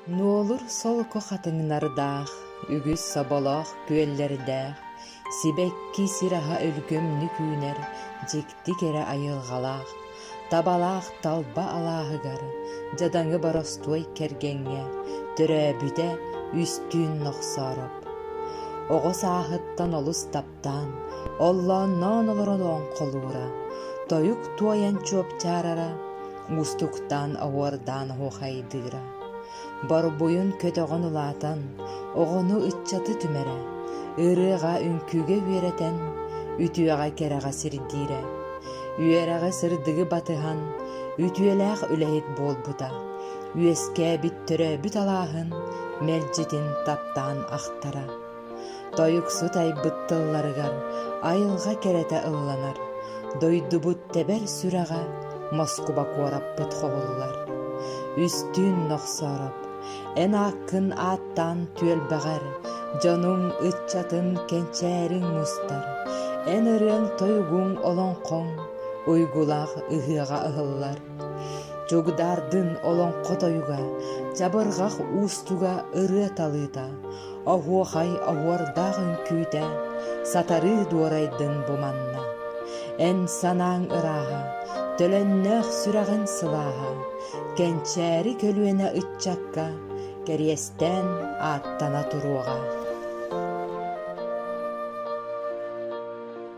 Нуолур солко хатыҥнардаах, үгүс соболоох күөллэрдээх, сибэкки сир аһа өлгөмнүк үүнэр дьикти кэрэ айылҕалаах, табалаах талба алааһыгар, дьадаҥы боростуой кэргэҥҥэ төрөөбүтэ үстүүн нохсоороп. Оҕо сааһыттан олус таптал аттаан, оллоонноон олорон оҥхолуура, тойук туойан чуопчаарара, уустуктаан оҕуордаан оһуохайдыыра. Борбуйун көтөҕөн улаатан, оҕону ыччаты түмэрэ, ырыаҕа үҥкүүгэ үөрэтэн, үтүөҕэ кэрэҕэ сирдиирэ. Үөрэҕи сырдыгы батыһан, үтүөлээх үлэһит буолбута. Үөскээбит төрөөбүт алааһын мэлдьитин таптаан ахтара. Тойуксут айбыт тылларыгар айылҕа кэрэтэ ылланар, дойдубут тэбэр сүрэҕэ Москуба куораппыт хобуллар. Үстүүн нохсоороп, эн ааккын ааттаан түөлбэҕэр, дьонуҥ ыччатын кэнчээриҥ мустар, эн ырыаҥ-тойугуҥ олоҥхоҥ уйгулаах ыһыаҕа ыһыллар. Чугдаардын олоҥхо тойуга Чабырҕах уустуга ырыа талыыта, Оһуохай оһуордаах үҥкүүтэ, Сатарыы дуорайдын буманна. Эн санааҥ ырааһа, Төлөннөөх сүрэҕин сылааһа, Кэнчээри көлүөнэ ыччакка Кэриэстээн ааттана туруоҕа.